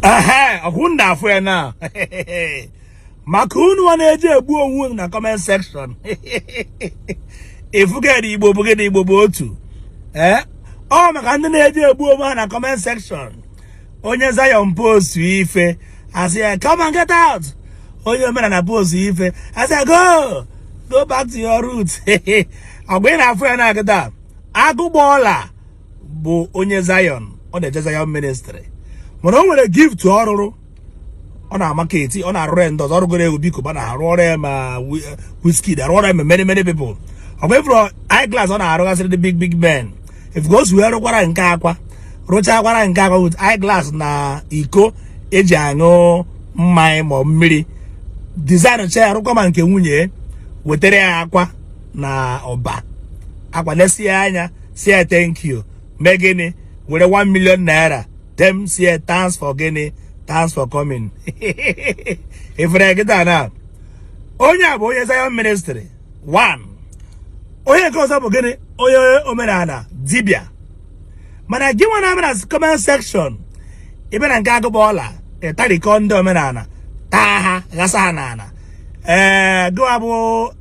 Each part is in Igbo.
ehe ọkwa unu na-afụ ya na maka unu wa na-eje egbu onwe unu na comment section ifugede igbo bụgede igbo bụ otu ee eh? ọ maka ndị na-eje egbu onwe ha na comment section onye Zion post ife a sị ya come and get out onye omenala post ife a sị ya go go back to your root ọ bụ ị na-afụ ya na-agịda agụgba ọla bụ onye Zion ọ na-eje Zion ministry mana o nwere gift ọ rụrụ ọ na-amarket ọ na-arụrụ ya ndị ọzọ ọ rụgoro Obi Cubana rụọrọ ya ma Wizkid rụọrọ ya ma many many people ọ bụ ị fụrụ eyeglass ọ na-arụgasịrị ndị big big men ị fụgo so wee rụkwara nke akwa rụchakwara nke akwa with eyeglass na iko eji aṅụ mmanya ma mmiri design chaa ya rụkwa ma nke nwunye wetere ya akwa na Ọba akwa lesie anya sị ya thank you mee gịnị were 1 million naira then sị ya thanks for gịnị thanks for coming ị fụrụ kịta na onye a bụ onye Zion ministry one onye nke ọzọ bụ gịnị onye omenala dibia mana gị nwa na-abịa na comment section ị bịa na nke agụgba ọla ị tarikọọ ndị omenala taa ha ghasa ha n'ala ee gịwa bụ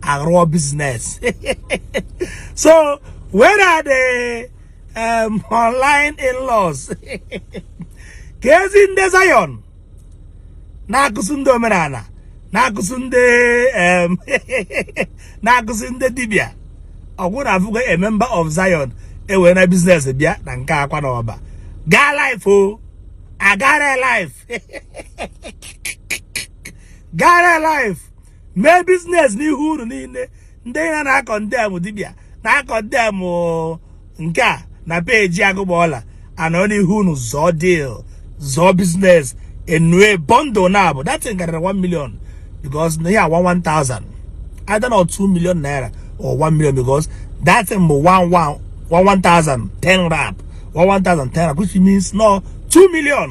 arụọ business so where are the um, online in-laws keezi ndị Zion na-akụzi ndị omenala na-akụzi ndị um, na-akụzi ndị dibia ọkwa unu afụgo a member of Zion ewena biznes bịa na nke akwa na Ọba gaa live o a gara live gara live mee biznes n'ihu unu niile ndị a na-acondemn dibịa na-acondemn nke a na peji agụgba ọla a nọ n'ihu unu zụọ deal zụọ biznes e nye bundle now but that thing karịrị 1 million because na ihe a wa 1000 either na 2 million naira or 1 million because that thing bụ 11 1000 wrap 1000 10 wrap which means no 2 million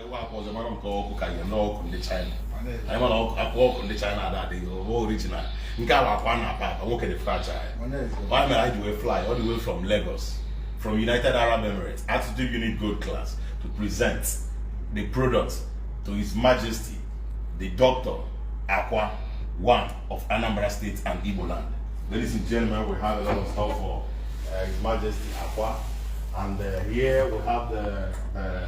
nke a akwa na akpa akpa nwoke dị fracha ya ọ mere anyị ji wee fly all the way from Lagos from United Arab Emirates Attitude Unit Gold Class to present the product to His Majesty the Doctor Akwa one of Anambra State and Igbo land. Ladies and gentlemen, we have a lot of stuff for uh, His Majesty Akwa. And uh, here we have the, the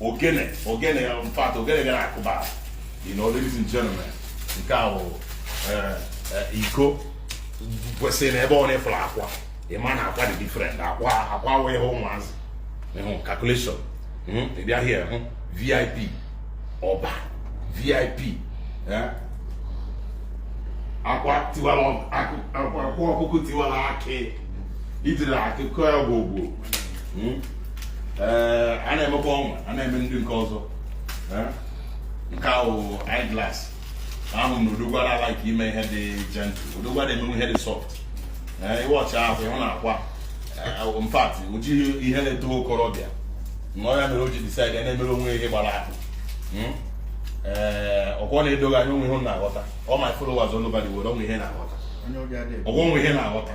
ogene ogene in fact ogene gara akụba you know ladies and gentlemen nke a bụ eh, eh, iko kwesịrị na ebe ọ na-efere akwa ịma na akwa dị different akwa akwa wee ihe ụmụazị ịhụ calculation hmm, ị bịa here hụ vip ọba vip eh? akwa tiwara akwa ọkụkọ tiwara akị ijiri akụkọ ya gwogwo hmm? eh, a na-emekwa ọnwa a na-eme ndị nke ọzọ eh? nke ahụ eyeglass ahụ na odogwu na-alike ime ihe dị gentle odogwu na-emewe ihe dị soft eh, ị watch ahụ na akwa in fact o ji ihe na-eto okorobịa na ọ ya mere o ji decide na-emere onwe ihe gbara ahụ hmm? ee eh, okwu na-edoghị anya o nwe ihe na-aghọta all my followers all over the world o nwe ihe na-aghọta ọgwọ o nwe ihe na-aghọta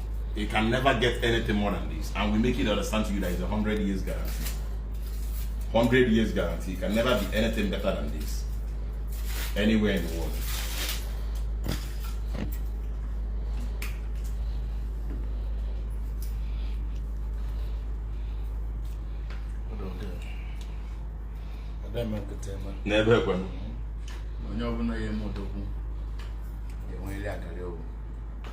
You can never get anything more than this. And we make it understand to you that it's a 100 years guarantee. 100 years guarantee. It can never be anything better than this. Anywhere in the world. n'ebe ekwe onye ọbụla ya eme odogwu ga-enwerịrị akarị ogwu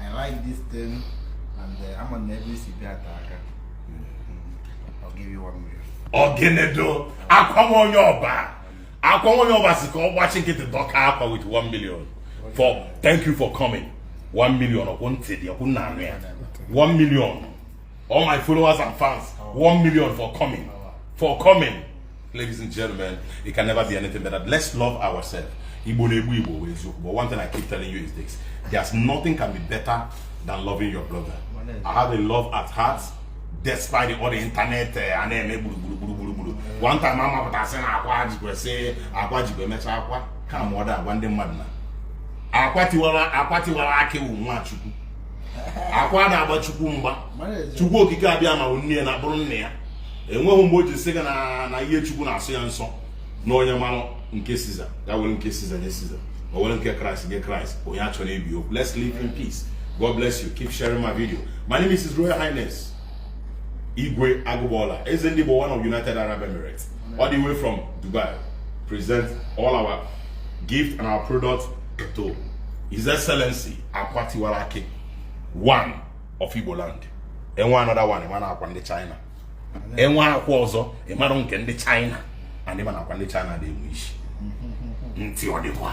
I like this thing and uh, I'm on every CP attack. I'll give you one million. Ogenedo, akwa onye ọba. Akwa onye ọba sị ka ọ gbachi nkịtị dọka akwa with 1 million. For thank you for coming. 1 million ọkwụ ntị dị ọkwa unu na-anụ ya. 1 million. All my followers and fans, one million for coming. For coming. Ladies and gentlemen, it can never be anything better. Let's love ourselves. Igbo na-egbu Igbo wụ eziokwu. But one thing I keep telling you is this. There's nothing can be better than loving your brother. I have a love at heart despite all the internet eh, a na-eme gburugburu gburugburu gburu. One time a mapụta sị na akwa jikwe sị akwa jikwe emechaa akwa ka ma ọ da agwa ndị mmadụ na akwa tiwara akwa tiwara akị wụ nwa Chukwu. akwa ada agba chukwu mgba chukwu okike abịama wụ nne ya na bụrụ nna ya enweghị mgbe o ji sị gị na ihe chukwu na-asọ ya nsọ na onye mara nke siza ya were nke siza nye siza o were nke kraịst nye kraịst onye achọna ibe okwu let's live in peace god bless you keep sharing my video my name is his royal highness igwe agụgbọla eze ndị igbo one of united arab emirates all the way from dubai present all our gift and our product to his excellency akwa tiwara akị one of Igbo land enwe another one ị ma na akwa ndị China enwe akwa ọzọ ị mara nke ndị China and ị ma na akwa ndị China na-enwe isi ntị ọ dịkwa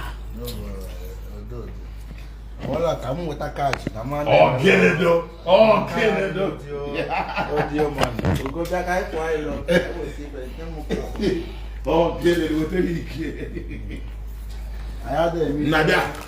wala ka m nweta kaachị na mmanụ ọgịnịdo ọgịnịdo odio man ogodo aka ịkwụ anyị lọ ọgịnịdo wetara ike na-abịa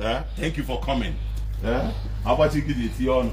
Eh? Thank you for coming. Eh? Agbachi gị na-eti ọnụ.